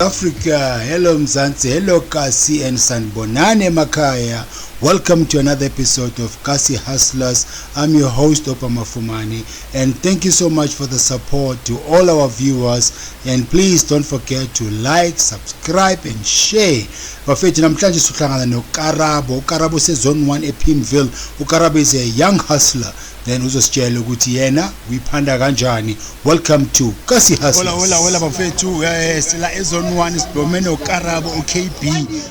Africa. Hello Mzansi. Hello Kasi and Sanbonane Makaya. Welcome to another episode of Kasi Hustlers. I'm your host Opa Mafumani and thank you so much for the support to all our viewers and please don't forget to like subscribe and share bafethu namhlanje sihlangana nokarabo ukarabo sezone 1 epimville ukarabo is a young hustler then uzositshela ukuthi yena uyiphanda kanjani welcome to kasi hustler hola hola bafethu eh, sila ezone 1 sidome nokarabo ukb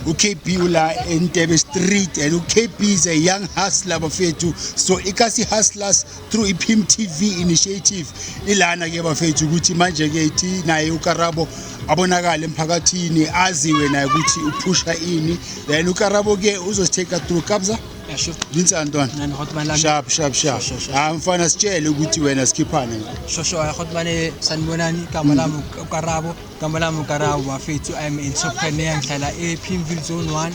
ukb ula entebe street and ukb is a young hustler bafethu so ikasi hustlers through i-pim tv initiative ilana ke bafethu ukuthi manje ke ithi naye ukarabo abonakale emphakathini aziwe naye ukuthi uphusha ini then ukarabo ke uzositake through kabza sharp sharp sharp ah mfana sitshele ukuthi wena sikhiphane shosho khotmane sanibonani igama lami ukarabo Igama lami uKarawu bafethu I'm entrepreneur ngihlala ePimville Zone 1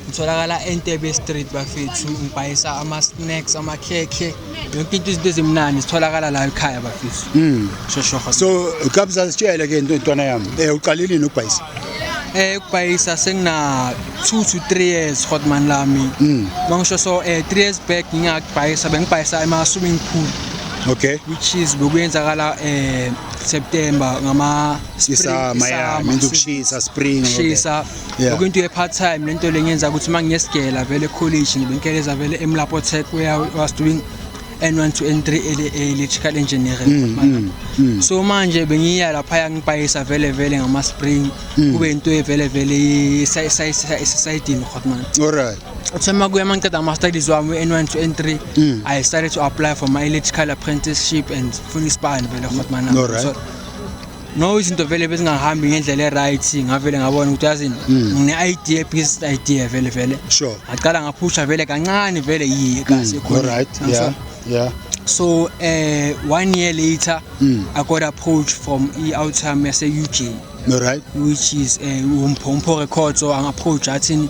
ngitholakala eNtebe Street bafethu ngibhayisa ama-snacks amakhekhe yonke into izinto ezimnandi zitholakala la ekhaya bafethu mm. shoshoho so kabza sitshele ke into intwana yami um eh, uqalile nini ukubhayisa eh ukubhayisa sengina 2 to 3 years hotman lami mm. mangisho so eh 3 years back ngingakubhayisa bengibhayisa ema-swimming pool okay which is bekuyenzakala um September ngama Isa maya means ukushisa spring shisa Yeah. lokho into ye part time lento lengenza ukuthi uma ngiyesigela vele college ngibe ngikeleza vele emlapo tech where I was doing N1 to N3 ele- electrical engineering mm, so manje bengiya lapha yangipayisa vele vele ngama spring kube into ye vele vele isayidini khotman Alright. Uthema kuye mangiqeda ama studies wami N1 to N3 mm. I started to apply for my electrical apprenticeship and funa isibani vele khotmana no right. so, no izinto vele bezingahambi ngendlela e-right ngavele ngabona ukuthi yazini mm. ngine-idea business idea vele vele sure ngaqala ngaphusha vele kancane vele yiye kasi mm. ekhona right yeah yeah so uh, one year later mm. i got approached from i-outcome yase-ug right which is eh, umpho records so angi-approach athini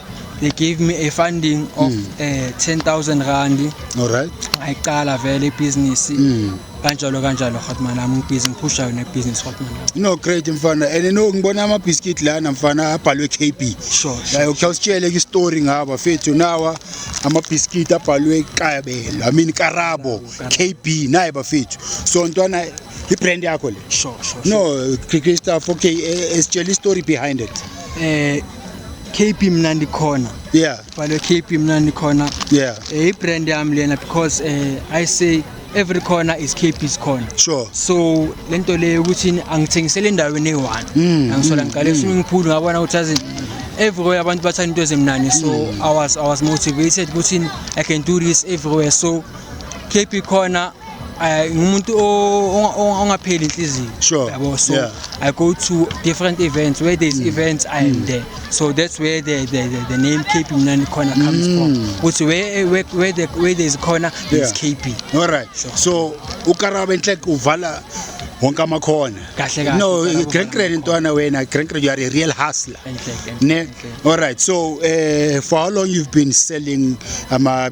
they gave me a funding of mm. uh, 10000 rand alright ngayiqala vele ibhizinisi mm. kanjalo kanjalo hotman ami ngibhizi ngiphusha yona ibhizinisi hotman no great mfana and no ngibona amabhiskit lana mfana abhalwe k b sure, sure, like, sure. usitshele ke isitori ngaba fethu nawa amabhiskit abhalwe kabelo i mean karabo k b naye bafethu so ntwana ibrand yakho le sure, sure, sure. no krista 4k eh, eh, sitshela istory behind it eh KP Mnandi Corner. Yeah. Bhalwe KP Mnandi Corner. Yeah. Eh, i-brand yami lena because eh, I say every corner is KP's corner. Sure. So lento le ukuthi angithengisele endaweni eyi-one. Mm, Angisola mm, ngiqale mm. swimming pool ngabona ukuthi azi everywhere abantu bathanda into ezimnandi so mm. I was I was motivated ukuthi I can do this everywhere so KP khona eh, ngumuntu o- onga- onga- ongapheli inhliziyo Sure, yabo so yeah. Mm. i go to different events where there's events i am there so that's where the, the, the, the name kp mnandi khona comes from ukuthi where, where, where, the, where there's khona there's Mm. Yeah. kp alright Sure. so ukaraba inhleke uvala wonke amakhona Kahle kahle, no ukaraba grand uvala grand ntwana wena grand grand you are a real hustler Enhle, enhle, ne enhle. alright so uh, for how long you've been selling ama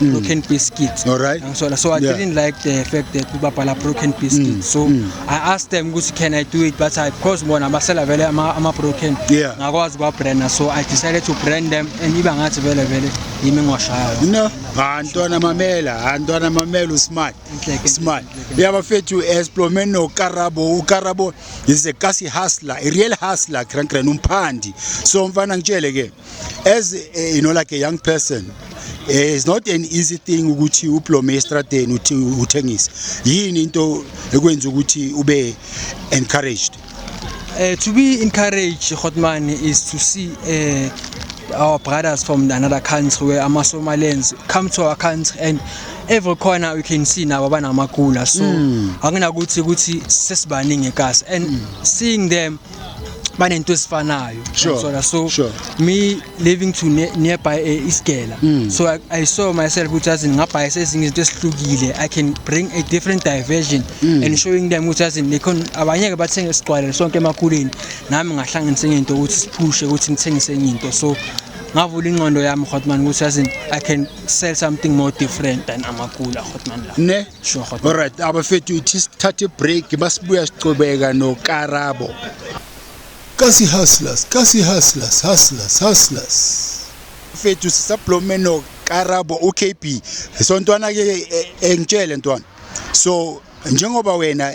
mm. broken biscuits all right angisola so i yeah. didn't like the fact that babhala broken biscuits mm. so mm. i asked them ukuthi can i do it but i because bona basela vele ama, ama broken yeah. ngakwazi kwa brand so i decided to brand them and iba ngathi vele vele yimi ngoshayo no antwana mamela antwana mamela usmart smart yabafethu esplome no karabo ukarabo is a kasi hustler a real hustler grand grand umphandi so mfana ngitshele ke As a, you know like a young person eh, it's not an easy thing ukuthi ublome estradeni uthi uthengise yini into ekwenza ukuthi ube encouraged Uh, to be encouraged, Hotman, is to see uh, our brothers from another country where ama Somalians come to our country and every corner we can see nabo banamagula so mm. anginakuthi ukuthi sesibaningi kasi and mm. seeing them banento ezifanayo sure. Msola. so sure. me living to ne nearby a eh, isigela mm. so I, i saw myself ukuthi azi ngingabhaya sezinye izinto esihlukile i can bring a different diversion mm. and showing them ukuthi azi nekhon abanye ke bathenge isigcwalelo sonke emakhuleni nami ngahlanganisa enye into ukuthi siphushe ukuthi ngithengise enye into so ngavula ingqondo yami hotman ukuthi azi i can sell something more different than amakula hotman la ne Alright abafethu ithi sithathe break basibuya sicobeka noKarabo. Kasi hustlers, kasi hustlers, hustlers, hustlers. Fethu sisablome noKarabo uKB. Sontwana ke engitshele ntwana. So njengoba wena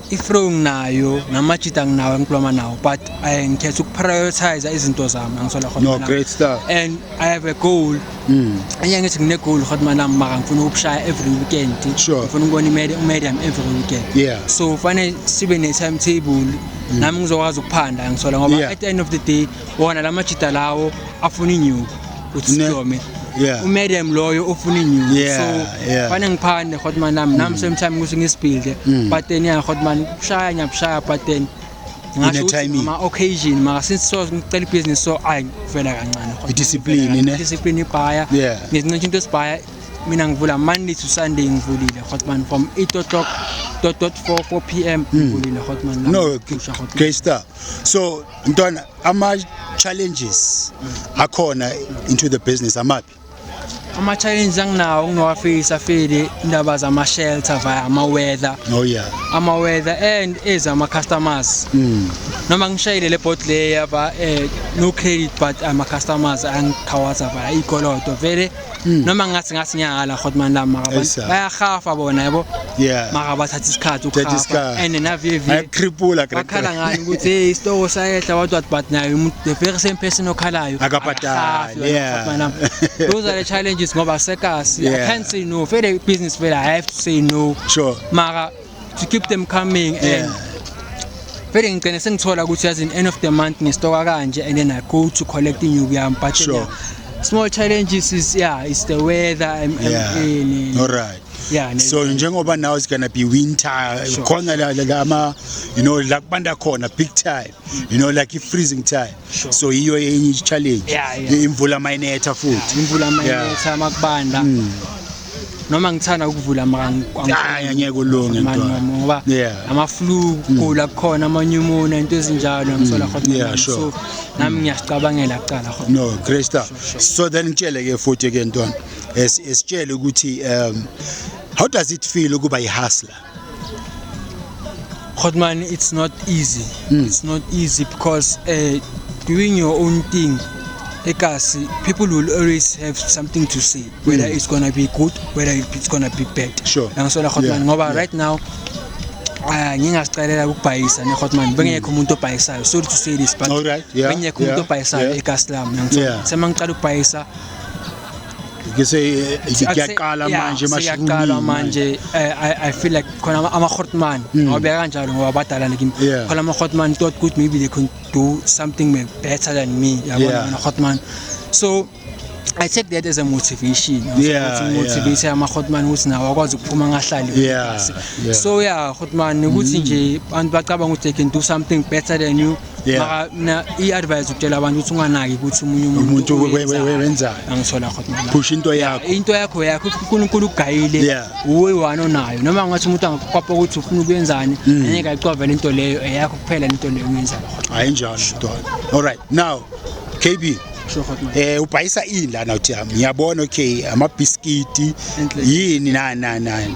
I-throwing nayo namajita nginawo engikhuluma nawo but eh, ngikhetha ukuprioritize izinto zami angisola No, Hotman great stuff. and i have a goal Mm. enye ngithi ngine-goal hotman am maka ngifuna ukushaya every weekend Sure. ngifuna ukubona imedi- umedium every weekend Yeah. so fanele sibe ne-timetable nami ngizokwazi ukuphanda ngisola ngoba Yeah. at the end of the day wona la majita lawo afuna inyuku ukuthi Ne- sihlome yeah. umadam loyo ufuna inyuku Yeah, so yeah. Mm. fane ngiphande hotman nami nami same time ukuthi ngisibhilde pattern ya hotman kushaya ngiyabushaya pattern Ngingasho ukuthi timing. ngama occasion maka since so ngicela ibhizinisi so ayi ngivela kancane Hotman, I-discipline, ngivela kancane. ne? discipline ibhaya Yeah. ngizincisha into esibhaya mina ngivula monday to sunday ngivulile hotman from 8 o'clock dot dot 4 4 pm ngivulile hotman nami. Mm. no Kusha, Hotman. great stuff so mntwana ama challenges akhona into the business amaphi ama challenges anginawo nginowafisa feli indaba zama shelter via ama weather oh yeah ama weather and ezama customers mm. noma ngishayile le bot leya ba eh, no credit but ama customers angikhawaza via ikoloto vele Mm. noma ngathi ngathi ngiyakala hot man la maka Yes, sir. abantu bayahafa bona yabo Yeah. maka bathatha isikhathi Thatha ukuhafa isikhathi. and navivi Ayakriphula bakhala great. ngani ukuthi hey isitoko sayehla what what but naye umuntu the very same person okhalayo Akabhadali, akahafi wena yeah. hot man la. those are the challenges ngoba sekasi i Yeah. can't say no vele business vele i have to say no Sure. maka to keep them coming and yeah. vele ngigcine sengithola ukuthi yazi in end of the month ngistoka kanje and then I go to collect inyuku yami but sure. yeah, small challenges is yeah it's the weather I'm, yeah. I'm in all right yeah so njengoba now it's going to be winter khona la la ama you know la kubanda khona big time you know like i-freezing time sure. so yiyo enye i-challenge yeah, yeah. imvula mayinetha futhi yeah, imvula mayinetha yeah. makubanda mm. noma ngithanda ukuvula makaangeke ngeke ulunge ngoba amaflu kugula mm. kukhona amanyumona into ezinjalo ngisola mm. khona so nami ngiyasicabangela kuqala khona no great stuff so then ngitshele ke futhi ke ntwana esitshele ukuthi um how does it feel ukuba i-hustler Hot man, it's not easy. Mm. It's not easy because uh, doing your own thing ekasi people will always have something to say whether mm. it's gonna be good whether it's gonna be bad sure. nangisola hotman yeah. ngoba yeah. right now ah, ngingazicelela ukubhayisa ne-hotman bengekho umuntu obhayisayo sorry to say this but right. yeah. bengekho umuntu yeah. obhayisayo yeah. ekasi lami nangisola yeah. semangiqala ukubhayisa ngise ngiyaqala manje mashiyaqala manje eh, i i feel like khona ama khotman hmm. ngoba kanjalo ngoba badala lekin khona ama khotman thought good maybe they can do something better than me yabona ama khotman so I take that as a motivation. Yeah, ukuthi motivate yeah. amakhotman ukuthi nawo akwazi ukuphuma ngahlali yeah, yeah. So yeah, khotman ukuthi mm. nje abantu bacabanga ukuthi they can do something better than you. Mm. Yeah. maka mina i-advise ukutshela abantu ukuthi unganaki ukuthi omunye Umuntu we- we- we- wenzani. angithola khona mina. phusha into yakho into yakho yakho unkulunkulu ugayile Yeah. uwe wani onayo noma ngathi umuntu angakukopa ukuthi ufuna ukuyenzani Mm. angeke ayicovele into leyo eyakho kuphela into leyo uyenzayo hayi njalo mntwana all right now kb Sure, hot man. eh ubhayisa ini lana uthi yami ngiyabona okay amabhiskiti yini nani nani nani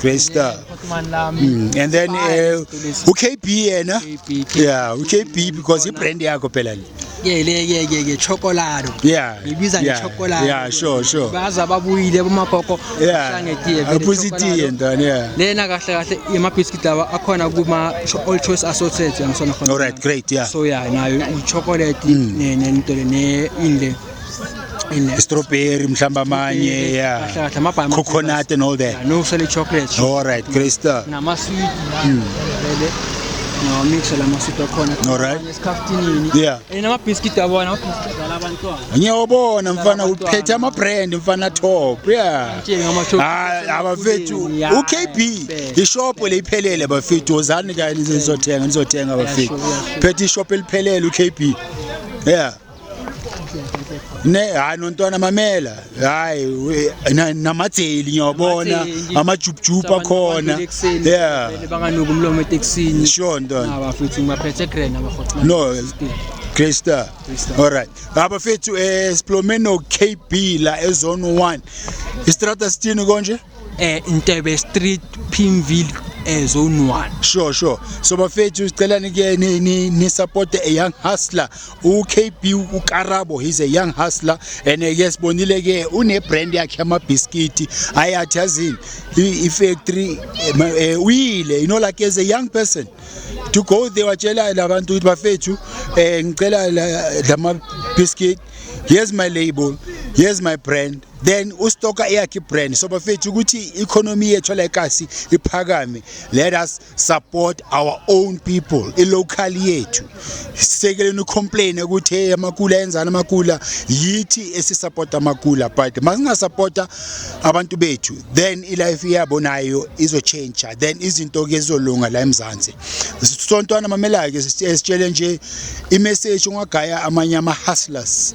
Great star. Mm. And then uh, uKB yena. Yeah, uKB because ibrand yakho phela le. Yeah, le yeah yeah yeah chocolate. Yeah. Ibiza yeah, chocolate. Yeah, sure sure. Baza babuyile bomagogo hlange tiye. Aphuzi tiye ndana yeah. Lena kahle kahle ima biscuit lawa akhona kuma all choice associates yangisona khona. All right, great, yeah. So yeah, nayo i chocolate mm. ne ne into le ne inle. strawberry mhlawumbe amanye yeah coconut and all that no sele chocolate all right great stuff nama sweet hmm. vele no mix la masweet akhona all right esikhaftini yeah and ama biscuit abona ama biscuit dala abantwana ngiyobona mfana uphethe ama brand mfana top yeah ah, abafethu ukb ishop leyiphelele abafethu ozani kanye nizothenga nizothenga abafethu phethe ishop eliphelele ukb yeah ne hayi nontwana mamela hayi namajeli ngiyabona amajubhujubhu akhona yeah banganuka umlomo etekisini sure ntwana ah, bafethu ngibaphethe grand abahoxa no Great Star. All right. Abafethu eh siplome no KB la ezone 1. Istrata sithini konje? eh Ntebe Street Pimville eh zone 1 sure sure so bafethu sicela nike ni, ni, ni support a young hustler uKB uKarabo he's a young hustler and eh, yes bonile ke une brand yakhe ama biscuit ayathi azini i factory eh, eh, uyile you know like as a young person to go there watshela labantu ukuthi bafethu eh ngicela lama biscuit here's my label here's my brand then ustoka eyakhe ibrand so bafethu ukuthi i-economy yethu la ekasi iphakame let us support our own people i-local yethu sisekeleni ucomplain ukuthi hey amakula enzani amakula yithi esisupporta amakula but masingasupporta abantu bethu then ilife yabo nayo izotshentsha then izinto ke zizolunga la emzansi sontwana mamela-ke sitshele nje imessage ungagaya amanye ama-hustlers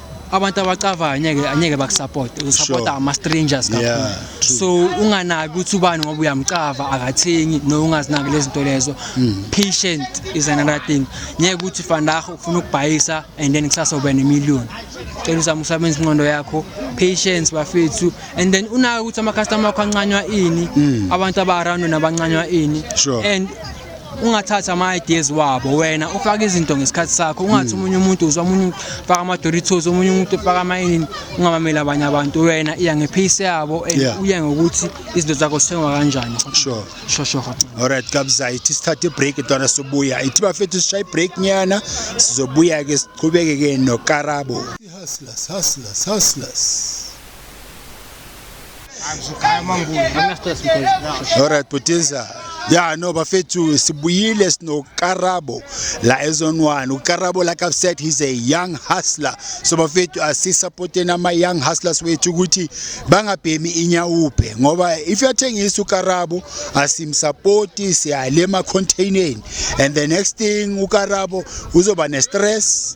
abantu abacavayo anyeke anyeke bakusupport usupport sure. ama strangers kakhulu yeah, so unganaki ukuthi ubani ngoba uyamcava akathengi no ungazinaki lezinto lezo mm. patient is another thing ngeke ukuthi fandah ufuna ukubhayisa and then kusasa ube ne million cela uzama usebenza inqondo yakho patience bafethu and then unaki ukuthi ama customer akho ancanywa ini mm. abantu aba around nabancanywa ini sure. and ungathathi ama-ideas wabo wena ufake izinto ngesikhathi sakho ungathi hmm. omunye umuntu uzwa omunye ufaka ama-doritos omunye umuntu ufaka amayini ungabameli abanye abantu wena iya ngephisi yabo and uye ngokuthi izinto zakho sithengwa kanjani sure sure sure alright kabza ithi sithathe ibreak ntwana sobuya ithi bafethu sishaye ibreak nyana sizobuya ke siqhubeke ke nokarabo hustlers hustlers hustlers Alright Putinza ya no bafethu sibuyile sinokarabo la ezone one ukarabo like i've said he's a young hustler so bafethu asisupporteni ama-young hustlers wethu ukuthi bangabhemi inyawuphe ngoba if uyathengisa ukarabo asimsapoti siyale emacontaineni and the next thing ukarabo uzoba ne-stress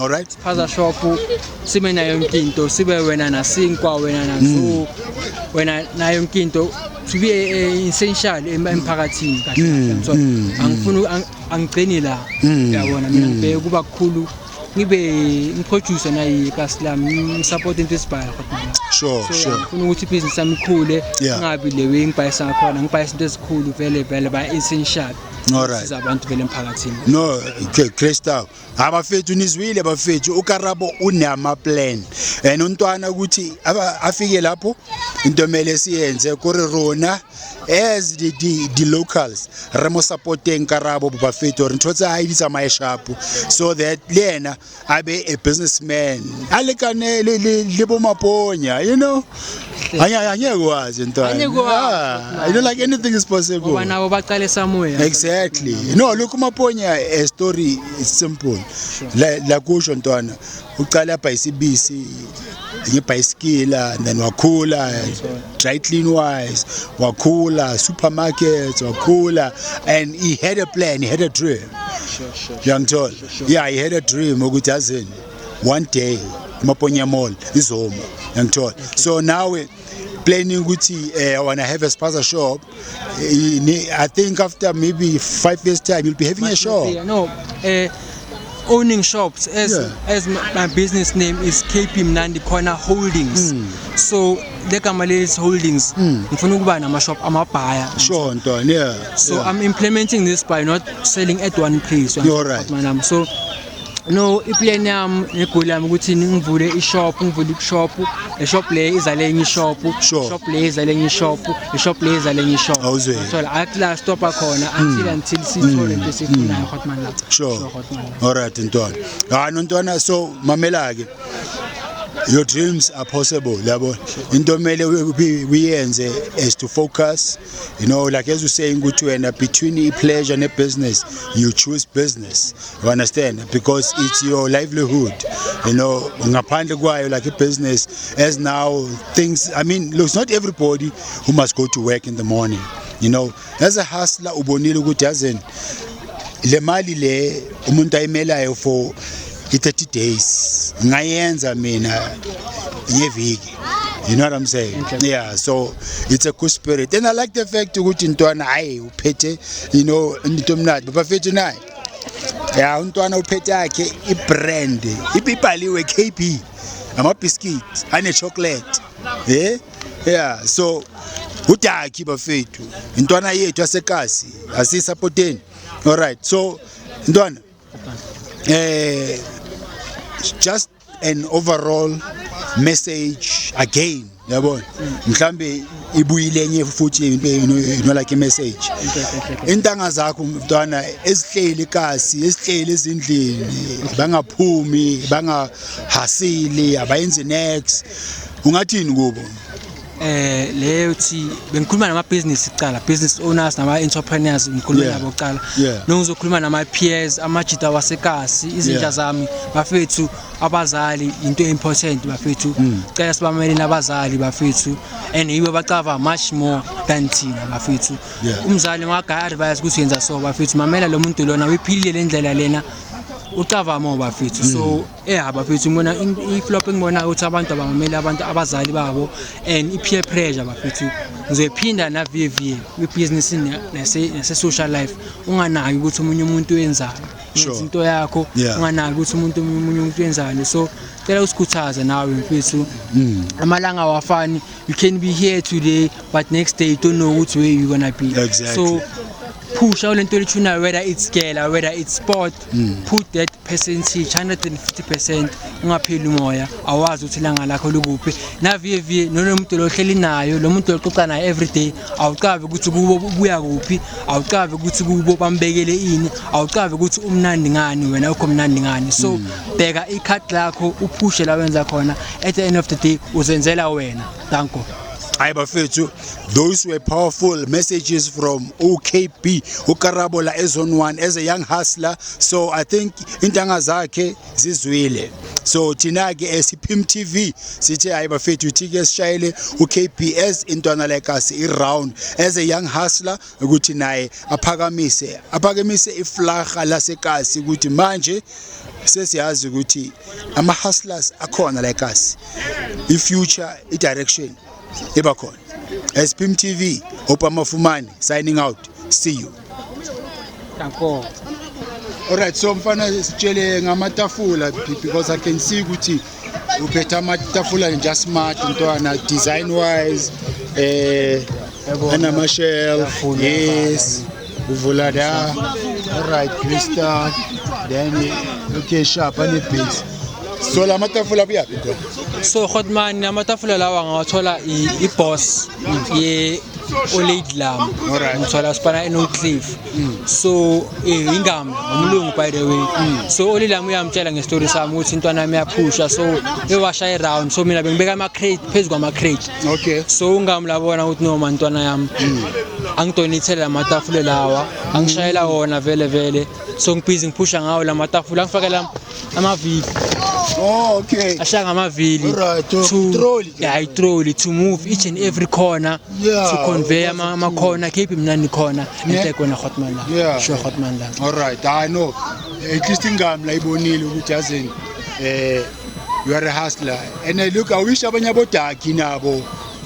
Alright. Spaza shop sibe nayo yonke into sibe wena nasinkwa wena nazo mm. wena nayo yonke into to be eh, essential emphakathini kahle mm, so mm, angifuni angigcini la uyabona mina ngibheke kuba kukhulu ngibe ngiproduce naye kasi lami ngisupport into esibhayo kodwa sure so, sure ngifuna ukuthi business yami ikhule ngabi le way ngibhayisa ngakhona ngibhayisa into ezikhulu vele vele ba essential all right siza abantu vele emphakathini no great stuff ha bafethu nizwile bafethu ukarabo unamaplan and untwana ukuthi afike lapho into emele siyenze kuri rona as the, the, the locals re mo supporteng karabo bafethu gore ntho tse a di tsamaye shapo so that le yena a be a businessman a lekane le bomaponya you know angeke wazi into ah, you know like anything is possible ngoba nabo baqale samoya exactly no look umaponya a story is simple la la kusho ntwana uqala apha isibisi ngebhayisikila and then wakhula dry clean wise wakhula supermarkets wakhula and he had a plan he had a dream sure, sure, sure, sure, sure. yeah he had a dream ukuthi azini one day imaponya mall izoma yangithola so nawe planning ukuthi eh, I wanna have a spaza shop eh, I think after maybe five years time you'll be having a shop no uh, owning shops as yeah. as my business name is KP Mnandi Corner Holdings mm. so legama lezi holdings hmm. ngifuna ukuba nama shop amabhaya sure ntwana yeah so yeah. i'm implementing this by not selling at one place you're right so no iplan yami negoli yami ukuthi ngivule ishop ngivule ishop ishop le izale enye ishop Sure. shop le izale enye ishop ishop le izale enye ishop Awuzwe. thola athi la stop khona until until sithole into esifunayo hotman la Hmm. sure hotman alright ntwana hayi nontwana so mamela ke your dreams are possible yabo into mele uyenze is to focus you know like as you saying ukuthi wena between i-pleasure ne-business you choose business you understand because it's your livelihood you know ngaphandle kwayo like i-business as now things i mean looks not everybody who must go to work in the morning you know as a hustler ubonile ukuthi yazen le mali le umuntu ayimelayo for i-30 days ngayenza mina ngeviki you know what i'm saying okay. yeah so it's a good spirit and i like the fact ukuthi ntwana hayi uphethe you know into emnandi bafethu naye ya untwana uphethe yakhe ibrand ibibhaliwe kb amabhiskit anechocolate ye yeah so udakhi bafethu intwana yethu asekasi asiyisapoteni all right so ntwana eh just an overall message again yabona mhlambe ibuyile enye futhi into into like message intanga zakho mntwana ezihleli kasi esihleli ezindlini bangaphumi bangahasili abayenzi next ungathini kubo eh leyo thi bengikhuluma nama business kuqala business owners nama entrepreneurs ngikhuluma yeah. nabo kuqala yeah. nongizokhuluma nama peers amajita wasekasi izinja yeah. zami bafethu abazali into important bafethu mm. cela sibamele nabazali bafethu and yibo bacava much more than thina bafethu yeah. umzali ngagaya advice ukuthi yenza so bafethu mamela lo muntu lona uyiphilile lendlela lena ucava mo bafethu mm. so Yeah bafethu ngibona i-flop engibona ukuthi abantu abamameli abantu abazali babo and i-peer pressure bafethu ngizoyiphinda na-VV kwi-business nase-social life unganaki ukuthi omunye umuntu wenzani yenza into yakho unganaki ukuthi umuntu omunye umuntu wenzani so cela usikhuthaze nawe mfethu mm. amalanga awafani you can be here today but next day you don't know which way you're gonna be exactly. so phusha lento elithunayo whether it's girl whether it's sport mm. put that percentage 150% ungapheli umoya awazi ukuthi ilanga lakho likuphi naviye viye nolo muntu lohleli nayo lo muntu loxoxa naye everyday awucabe ukuthi kubo buya kuphi awucabe ukuthi kubo bambekele ini awucabe ukuthi umnandi ngani wena ukho mnandi ngani so mm. bheka i-card lakho uphushe la wenza khona at the end of the day uzenzela wena danko hayi bafethu Those were powerful messages from OKB uKarabo la ezone 1 as a young hustler so I think intanga zakhe zizwile so thina ke esiphim TV sithe hayi bafethu thi ke sishayele uKBS intwana like us i round as a young hustler ukuthi naye aphakamise aphakamise iflaga lasekasi ukuthi manje sesiyazi ukuthi ama hustlers akhona like us i future i direction iba khona SPM TV opamafumani signing out see you Danko Alright so mfana sitshele ngamatafula because I can see ukuthi uphetha amatafula nje smart ntwana design wise eh anama shelf yes Uvula la right Crystal then okay sharp ane beats. So la matafula kuyaphi khona? So Hotman amatafula lawa ngawathola i-boss ye Olate Lam. Alright. Ngithola sipana eNotcliff. Mm. So eh, ingama umlungu by the way. Mm. So Olate Lam uyamtshela ngestory sami ukuthi intwana yami yaphusha so ewasha iround so mina bengibeka ama crate phezu kwama crate. okay so ungamlabona ukuthi noma ntwana yami mm. angidonithele amatafule lawa angishayela wona vele vele so ngibhizi ngiphusha ngawo la matafule angifakela amavili Oh, okay. ashaya ngamavili Alright, to to- trolley ke. yeah, itroli to move each and every corner Yeah, to convey ama- ama corner keep mnandi khona Yeah. enhle kona hotman la Yeah. sure hotman la All right. I know. At least ingami la ibonile ukuthi yazini eh you are a hustler and I look I wish abanye abodaki nabo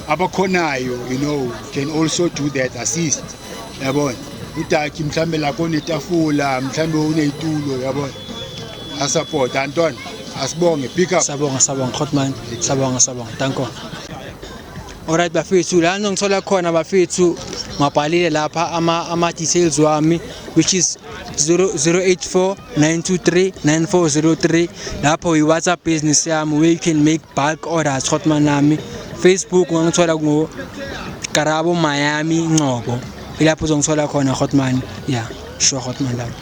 abakhonayo you know can also do that assist yabona udaki mhlambe la konetafula mhlambe uneyitulo yabona asupport antwana asibonge pick up sabonga sabonga hotman sabonga sabonga danko Alright bafethu la ngithola khona bafethu ngabhalile lapha ama ama details wami which is 0849239403 lapho yi WhatsApp business yami where you can make bulk orders hotman nami Facebook ngangithola ku Karabo Miami Ngcobo ilapho uzongithola khona hotman yeah sure hotman lapho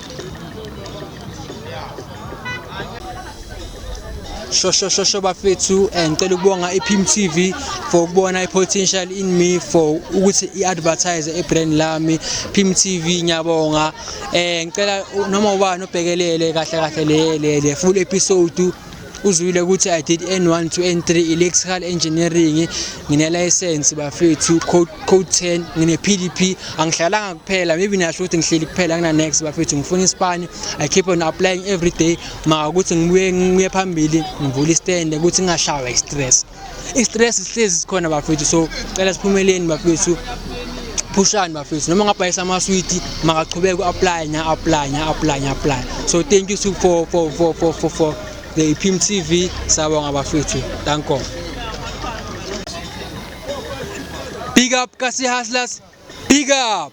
shoshosho bafethu eh, ngicela ukubonga iPim TV for ukubona ipotential in me for ukuthi iadvertise ebrand lami Pim TV ngiyabonga eh ngicela noma ubani obhekelele kahle kahle le le full episode uzwile ukuthi i did n1 to n3 electrical engineering nginelayisensi bafethu code 10 ngine-pdp angihlalanga kuphela maybe niyasho ukuthi ngihleli kuphela ngina-next bafethu ngifuna isipani i keep on applying every day maka ukuthi ngibuye ngiye phambili ngivule istende ukuthi ngingashawa i-stress i-stress sihlezi sikhona bafethu so cela siphumeleni bafethu phushani bafethu noma ngabhayisa amaswiti makachubeke u-apply nya-apply nya-apply nya-apply so thank you for, for, for, for, for, for the ipim t v sabonga bafethu thank god big up kasi hustlers big up